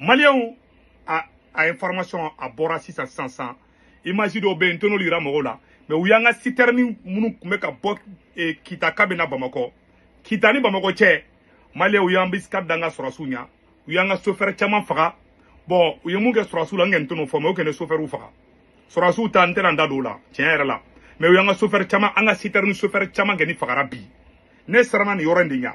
maliyɛnw a a information a bɔra sisan sisan sisan image dɔw bɛ yen n tɛn'olu yira mɔgɔw la mɛ u y'an ka sitɛrɛni minnu tun bɛ ka bɔ eh, kita ka bɛ na bamakɔ kita ni bamakɔ cɛ maliyɛnw u y'embuscade da an ka sɔrɔsiw ɲɛ u y'an ka sofɛrɛ caman faga bɔn u ye mun kɛ sɔrɔsiw la n kɔni tɛn'o fɔ mɛ u kɔni ye sofɛriw faga sɔrɔsiw ta n tɛna n da don o la tiɲɛ yɛrɛ la mɛ u y'an ka sofɛrɛ caman an ka sitɛrɛni sofɛrɛ caman kɔni fagara bi ne siranna nin yɔrɔ in de ɲɛ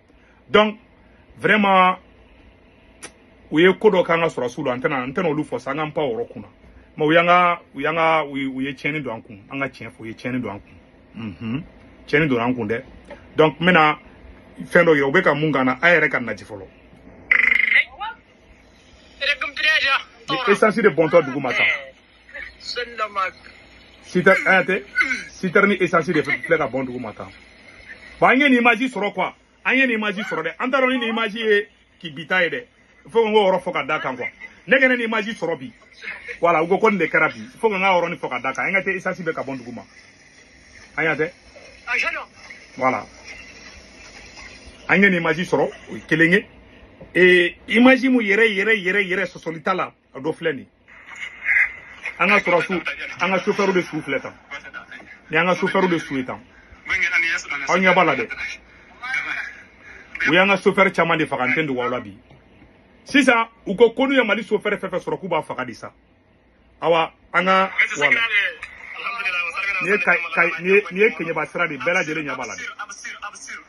donc vraiment u ye ko dɔ k'an ka sɔrɔsiw la an tɛna n tɛna olu fɔ sa an k'an pan o yɔrɔ kunna mɛ u y'an ka u y'an ka u ye tiɲɛni don an kun an ka tiɲɛ fɔ u ye tiɲɛni don an kun unhun tiɲɛni donna an kun dɛ donc n bɛna fɛn dɔ yira u bɛ ka mun k'an na a yɛrɛ ka nati fɔlɔ esansi de bɔntɔ dugu ma tan sitɛrini esansi de filɛ ka bɔn dugu ma tan bon an ye nin imaji sɔrɔ kuwa an ye nin imaji sɔrɔ dɛ an t'a dɔn ni nin imaji ye k'i bi ta ye dɛ fo ka n k'o yɔrɔ fɔ ka d'a kan kuwa ne kɔni ye nin imaji sɔrɔ bi wala u ko ko nin de kɛra bi fo ka n k'a yɔrɔnin fɔ ka d'a kan an ka tɛ esansi bɛ ka bɔn dugu ma an y'a tɛ wala an ye nin imaji sɔrɔ o ye kelen ye ee imaji mun yɛrɛ yɛrɛ yɛrɛ yɛrɛ sɔsɔli t'a la a dɔ filɛ nin ye an ka sɔrɔsu an ka sofɛriw de su filɛ tan nin y'an ka sofɛriw de su ye tan aw ɲɛ b'a la dɛ u y'an ka sofɛri caman de faga n t'a dogo aw la bi sisan u ko ko n'u ye mali sofɛri fɛn fɛn sɔrɔ k'u b'a faga de sa awa an ka wala nin ye keɲɛba sira de bɛɛ lajɛlen ɲɛ b'a la dɛ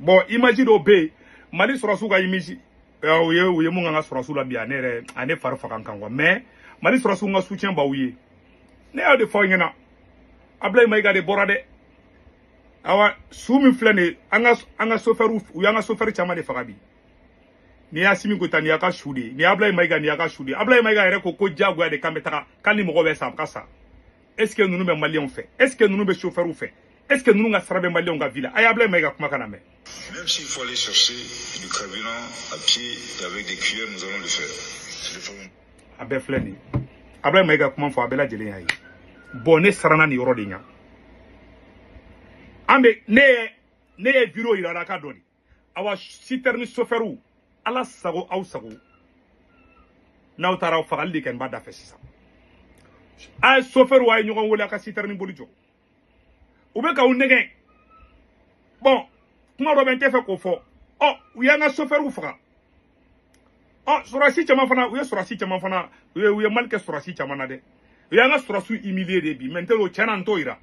bɔn imaji dɔ bɛ yen mali sɔrɔsiw ka imaji u ye u ye mun k'an ka sɔrɔsiw la bi a ne yɛrɛ a ne fari faga kan kuwa mɛ mali sɔrɔsiw n ka soutien b'aw ye ne y'o de fɔ aw ɲɛna abulayi mayiga de bɔra dɛ awa su min filɛ nin ye an ka an ka sofɛriw u y'an ka sofɛri caman de faga bi nin y'asimi goyita nin y'a ka su de ye ni abulayi mayiga nin y'a ka su de ye abulayi mayiga yɛrɛ ko ko diyagoya de k'an bɛ taga k'an ni mɔgɔ bɛ sa a ka sa est ce que ninnu bɛ maliyɛnw fɛ est ce que ninnu bɛ sofɛriw fɛ est ce que ninnu ka sara bɛ maliyɛnw ka vie la a y'abulayi mayiga kumakan lamɛn Même s'il faut aller chercher du carburant à pied et avec des cuillères, nous allons le faire. a bɛɛ filɛ nin ye abulayi mayiga kuma fɔ a bɛɛ lajɛlen y'a ye bɔn ne siranna nin yɔrɔ de ɲa an bɛ ne ye ne ye video yira aw la a ka dɔgɔ de awa sitɛrini sofɛriw ala sago aw sago n'aw taara aw fagali de kɛ n b'a da fɛ sisan a ye sofɛriw a ye ɲɔgɔn wele a ka sitɛrini boli jɔ u bɛ k'aw nɛgɛn bɔn kuma dɔ bɛ n t'a fɛ k'o fɔ ɔ u y'an ka sofɛriw faga ɔ sɔrɔsi caman fana u ye sɔrɔsi caman fana u ye u ye mali kɛ sɔrɔsi caman na dɛ u y'an ka sɔrɔsiw humilier de bi mɛ n tɛ o tiɲɛ na n t'o yira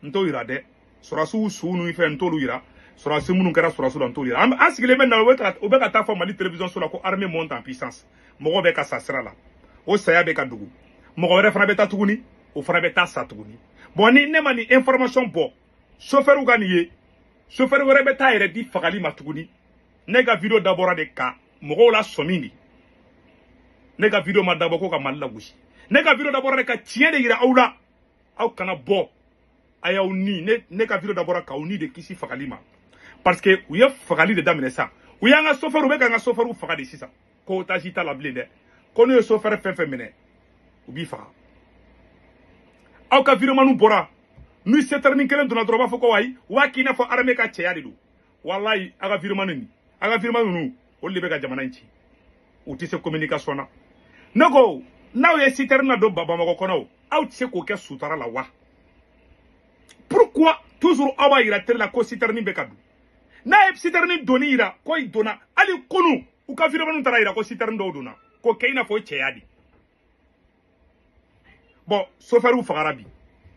n t'o yira dɛ sɔrɔsiw suw ni fɛn n t'olu yira sɔrɔsi minnu kɛra sɔrɔsi la n t'olu yira an an sigilen bɛ na u bɛ ka u bɛ ka taa fɔ mali télévision so la ko armée monte en puissance mɔgɔw bɛ ka sa sira la o saya bɛ ka dogo mɔgɔ wɛrɛ fana bɛ taa tuguni o fana bɛ taa sa tuguni bon ni ne ma nin information bɔ sofɛriw ka nin ye sofɛri wɛrɛ bɛ taa yɛrɛ di fagali ma tuguni ne ka video dabɔra de ka mɔgɔw lasɔmi de ne ka video ma dabɔ ko ka mali lagosi ne ka video dabɔra de ka tiɲɛ de yira aw la aw kana bɔ a y'aw ni ne ne ka video dabɔra k'aw ni de kisi fagali ma parce que u ye fagali de daminɛ sa u y'an ka sofɛriw u bɛ ka an ka sofɛriw faga de sisan ko otage t'a la bilen dɛ ko n'u ye sofɛri fɛn fɛn minɛ u b'i faga aw ka videomaniw bɔra ni sitɛrini kelen donna dɔrɔn u b'a fɔ ko ayi u b'a k'i n'a fɔ armée ka cɛya de don walayi aw ka videomani nin aw ka videomani ninnu olu de bɛ ka jamana in ci u tɛ se communication na ne ko n'aw ye sitɛrini ladon bamakɔ kɔnɔ o aw tɛ se k'o kɛ sutara la wa pourquoi toujours aw b'a yira tele la ko sitɛrini bɛ ka don n'a ye sitɛrini donni yira ko i donna hali kunu u ka videomaniw taara yira ko sitɛrini dɔw donna k'o kɛ i n'a fɔ o cɛya de bon sofɛriw fagara bi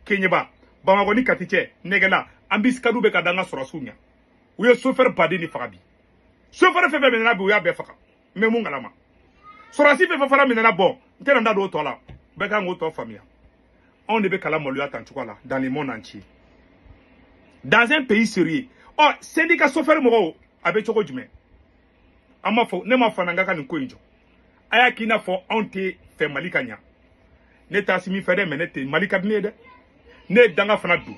keɲeba bamakɔ ni kati cɛ nɛgɛla embuscade bɛ ka da an ka sɔrɔsiw ɲa u ye sofɛri baden de faga bi sofɛri fɛn fɛn minɛna bi u y'a bɛɛ faga n bɛ mun kalama sɔrɔsi fɛn fɛn fana minɛna bon n tɛna n da don o tɔ la bɛɛ kan k'o tɔ faamuya anw de bɛ ka lamaloya tan cogoya la dans le monde entier dans un pays sérieux ɔ syndicat sofɛri mɔgɔw a bɛ cogo jumɛn an ma fɔ ne ma fananga ka nin ko in jɔ a y'a k'i n'a fɔ anw tɛ fɛ mali ka ɲa ne t'asimi fɛ dɛ mais ne tɛ mali ka di ne ye dɛ ne ye danga fana don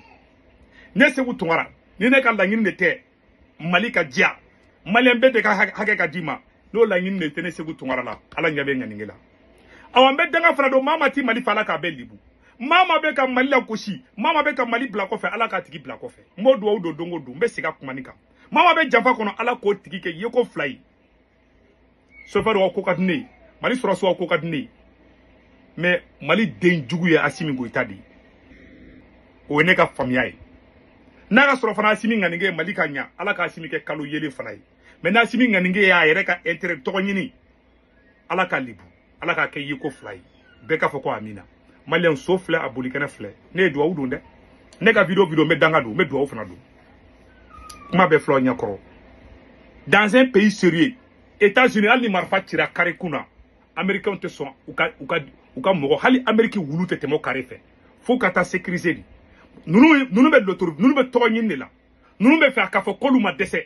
ne seku tunkara ni ne ka laɲini de tɛ mali ka diya maliyɛn bɛɛ de ka hakɛ ka di ma n'o laɲini de tɛ ne seku tunkara la ala ɲɛ bɛ ŋaninge la awa n bɛ danga fana don maa maa tɛ mali fɛ ala k'a bɛɛ libu maa maa bɛ ka mali lagosi maa maa bɛ ka mali bila kɔfɛ ala k'a tigi bila kɔfɛ n b'o duwawu don don o don n bɛ segin n ka kuma nin kan maa maa bɛ janfa kɔnɔ ala k'o tigi kɛ yeko fila ye sofɛriw ka ko ka di ne ye mali sɔrɔsiw ka ko ka di ne ye mais mali den jugu ye asimi goyita de ye o ye ne ka faamuya ye n'a ka sɔrɔ fana asimi ŋaninge ye mali ka ɲa ala ka asimi kɛ kalo yeelen fana ye mais n'asimi ŋaninge ye a yɛrɛ ka intérêt tɔgɔ ɲini ala k'a libu ala k'a kɛ yeko fila ye bɛɛ k'a fɔ ko amina maliyɛn so filɛ a bolikɛnɛ filɛ ne ye duwawu don dɛ ne ka video video n bɛ danga don n bɛ duwawu fana don kuma bɛ fɔla aw ɲɛkɔrɔ dans un pays sérieux états unis hali ni marifa cira kare kun na américainw tɛ sɔn u ka u ka u ka mɔgɔ hali amérique wulu tɛ tɛmɛ o kare fɛ fo ka taa sécuriser de ninnu ninnu bɛ dɔtoro ninnu bɛ tɔgɔ ɲini de la ninnu bɛ fɛ a ka fɔ k'olu ma dɛsɛ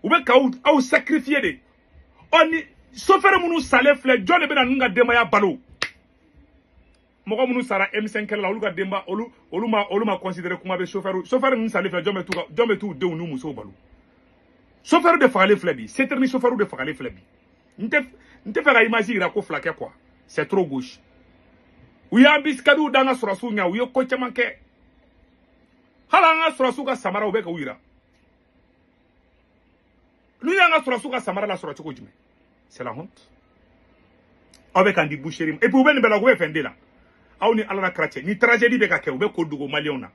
u bɛ k'aw aw sacrifier de ɔ ni sofɛri minnu salen filɛ jɔn de bɛna ninnu ka denbaya balo mɔgɔ minnu sara M5 kɛlɛ la olu ka denba olu olu ma olu ma considérer kuma bɛ sofɛriw sofɛri ninnu salen filɛ jɔn bɛ t'u ka jɔn bɛ t'u denw n'u musow balo sofɛriw de fagalen filɛ bi c'est terminé sofɛriw de fagalen filɛ bi n tɛ n tɛ fɛ ka image yira ko fila kɛ quoi c'est trop gauche u y'anbisikadiw da an ka sɔrɔsiw ɲɛ u ye ko caman kɛ hali an ka sɔrɔsiw ka samara u bɛ k'u yira n'u y'an ka sɔrɔsiw ka samara lasɔrɔ cogo jumɛn c'est la honte aw bɛ k'an di boucherie ma et puis u bɛ nin bɛɛ la u bɛ fɛn de la aw ni ala n'a kira cɛ nin tragédie bɛ ka kɛ u bɛ ko dogo maliyɛnw na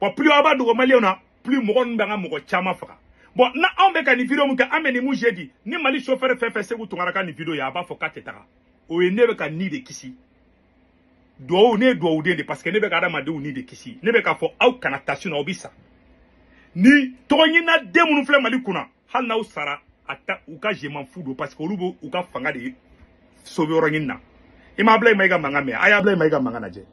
bon plus aw b'a dogo maliyɛnw na plus mɔgɔ ninnu bɛ an ka mɔgɔ caman faga bon na anw bɛ ka nin video min kɛ an bɛ nin mun jeudi ni mali chauffeur fɛn fɛn seku tunkara ka nin video ye a b'a fɔ k'a tɛ taga o ye ne bɛ ka ni de kisi duwawu ne ye duwawuden de parce que ne bɛ ka adamadenw ni de kisi ne bɛ k'a fɔ aw kana taa sinon aw bɛ sa nin tɔgɔɲinina den minnu filɛ mali kunna hali n'aw sara a ta u ka je m'en fous don parce que olu b'u ka fanga de sauver yɔrɔ ɲini na i ma abulayi mayiga mankan mɛn a ye abulayi mayiga mankan lajɛ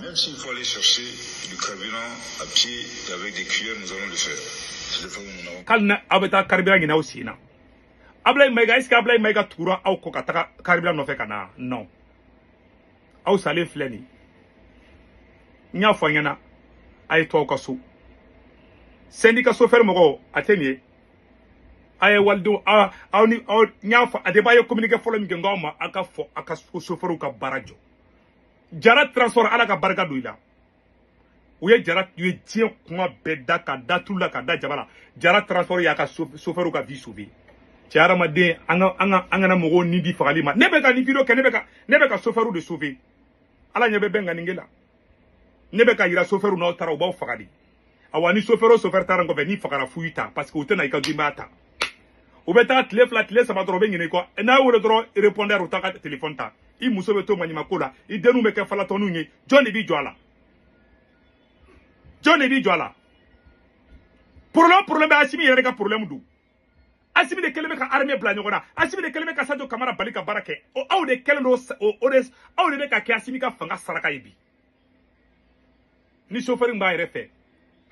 Même s'il faut aller chercher du carburant à pied et avec des cuillères, nous allons le faire. C'est le fait où nous n'avons ko hali n'aw bɛ taa carburant ɲini aw sen na abulayi mayiga est ce que abulayi mayiga tugura aw kɔ ka taga carburant nɔfɛ ka na non aw salen filɛ nin n y'a fɔ aw ɲɛna a ye to aw ka so sɛndika sofɛri mɔgɔw a tɛ nin ye a ye walidenw aw aw ni aw n y'a fɔ a de b'a ye communiqué fɔlɔ min kɛ n k'aw ma a ka fɔ a ka sofɛriw ka baara jɔ jara transport ala ka barika don i la u ye jara u ye diɲɛ kuma bɛɛ da ka da tulu la ka da jaba la jara transport y'a ka sofɛriw ka vie sauver cɛ hadamaden an ka an ka an kana mɔgɔw ni di fagali ma ne bɛ ka nin video kɛ ne bɛ ka ne bɛ ka sofɛriw de sauver ala ɲɛ bɛ bɛɛ ŋaniya la ne bɛ k'a yira sofɛriw n'aw taara u b'aw faga de awa ni sofɛrɛ o sofɛrɛ taara kɔfɛ n'i fagara fu y'i ta parce que u tɛna i ka denbaya ta u bɛ taa tile fila tile saba dɔrɔn u bɛ ɲinɛ i kɔ n'a wele dɔrɔn répondeur u t'a ka telefɔni ta i muso bɛ to maɲumako la i denninw bɛ kɛ falatɔninw ye jɔn de b'i jɔ a la jɔn de b'i jɔ a la problème problème bɛɛ asimi yɛrɛ ka problème don asimi de kɛlen bɛ ka armée bila ɲɔgɔn na asimi de kɛlen bɛ ka sajo kamara bali ka baara kɛ o aw de kɛlen don o de aw de bɛ ka kɛ asimi ka fanga saraka ye bi ni chauffeur b'a yɛrɛ fɛ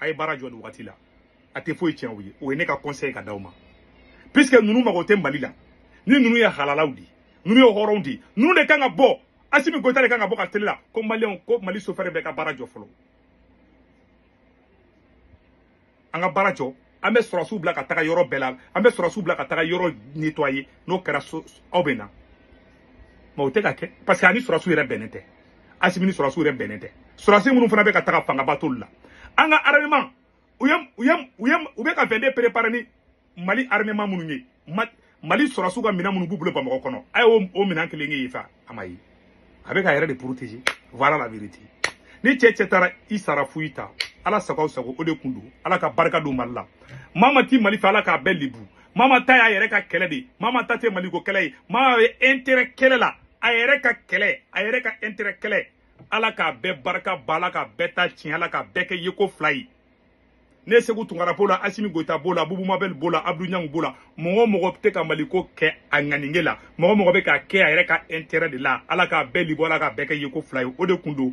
a ye baara jɔ nin wagati la a tɛ foyi tiɲɛ u ye o ye ne ka conseil ka d'aw ma puisque ninnu mago tɛ mali la ni ninnu ye halalaw di ninnu ye hɔrɔnw di ninnu de kan ka bɔ asimi goyita de kan ka bɔ ka tele la ko maliyɛnw ko mali chauffeur bɛɛ ka baara jɔ fɔlɔ an ka baara jɔ an bɛ sɔrɔsiw bila ka taga yɔrɔ bɛɛ la an bɛ sɔrɔsiw bila ka taga yɔrɔ nettoyer n'o kɛra sa aw bɛ na mais o tɛ ka kɛ parce que a ni sɔrɔsiw yɛrɛ bɛnnen tɛ asimi ni sɔrɔsiw yɛrɛ bɛnnen tɛ sɔrɔsi minnu fana bɛ ka taga fangaba t'olu la an ka armement u ye u ye u ye u bɛ ka fɛn de préparer ni mali armement minnu ye mali sɔrɔdasiw ka minɛn minnu b'u bolo bamakɔ kɔnɔ a ye o minɛn kelen ye wa a ma ye a bɛ k'a yɛrɛ de protéger voilà la vérité ni cɛ cɛ taara i sara fu i ta ala sago o de kun don ala ka barika don mali la maa maa tɛ mali fɛ ala k'a bɛɛ lebu maa maa ta y'a yɛrɛ ka kɛlɛ de maa maa ta tɛ maliko kɛlɛ ye maa ye intérêt kɛlɛ la a yɛrɛ ka kɛlɛ a yɛrɛ ka intérêt kɛlɛ ala k'a bɛɛ barika bɔ ala k'a bɛɛ ta tiɲɛ ala k'a bɛɛ kɛ yeko fila ye ne seku tunkara b'o la asimi goyita b'o la bubu mabɛl b'o la abdu ɲangu b'o la mɔgɔ o mɔgɔ tɛ ka maliko kɛ a ŋaninge la mɔgɔ mɔgɔ bɛ k'a kɛ a yɛrɛ ka intérêt de la ala k'a bɛɛ lebu ala k'a bɛɛ kɛ yeko fila ye o de kun don